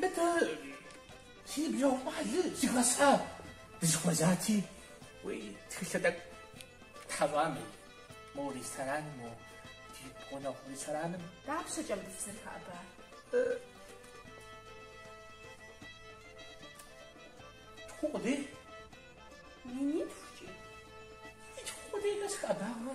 Мыдэ си ныбжьэгъу щӏалэ зыхэсхьа дызэхуэзати, уи тхылъэ тӏэкӏу тхьэщӏами, мо рестораным, мо ди гъунэгъу рестораным. Дапщэкӏэ мыбы фызэрыхэӏэбар? Тху къудей? Минитхукӏи. И тху къудей нэс хэӏэбауэ.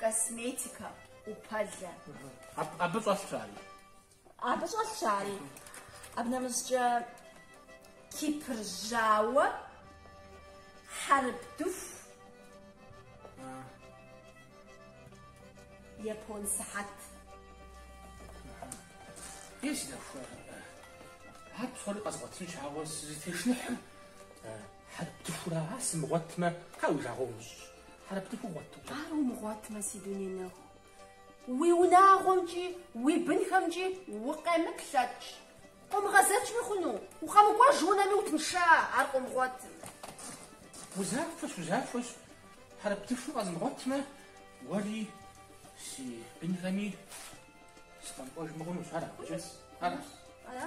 Косметикэ, ӏупэлэ. Абы щӏэлъщ ари. Абы щӏэлъщ ари. Абы нэмыщӏкӏэ Кипр жьауэ, хьэрып дыху, япон сыхьэт. Си нэху, ар псори къэзгъуэтынщ, ауэ сызытешныхьым Хьэрып дыхура сымыгъуэтмэ, ар уи жагъуэ умыщӏ. Хьэрып дыху гъуэт. Ар умыгъуэтмэ, си дуней нэху. Уи унагъуэмкӏи, уи бынхэмкӏи укъемыплъэкӏ. Къомыгъэзэжми хъуну? Укъэмыкӏуэж унэми утынша, ар къомыгъуэтым. Узахуэщ, узахуэщ. Хьэрып дыху къэзмыгъуэтмэ, уэри си бынхэми сыкъэмыкӏуэжми хъунущ. Ара, абыкӏэ? Ара? Ара?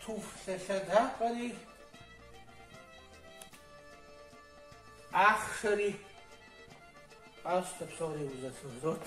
Туфлъэ лъэдакъэри, ахъшэри къащтэ псори узэхыгрот.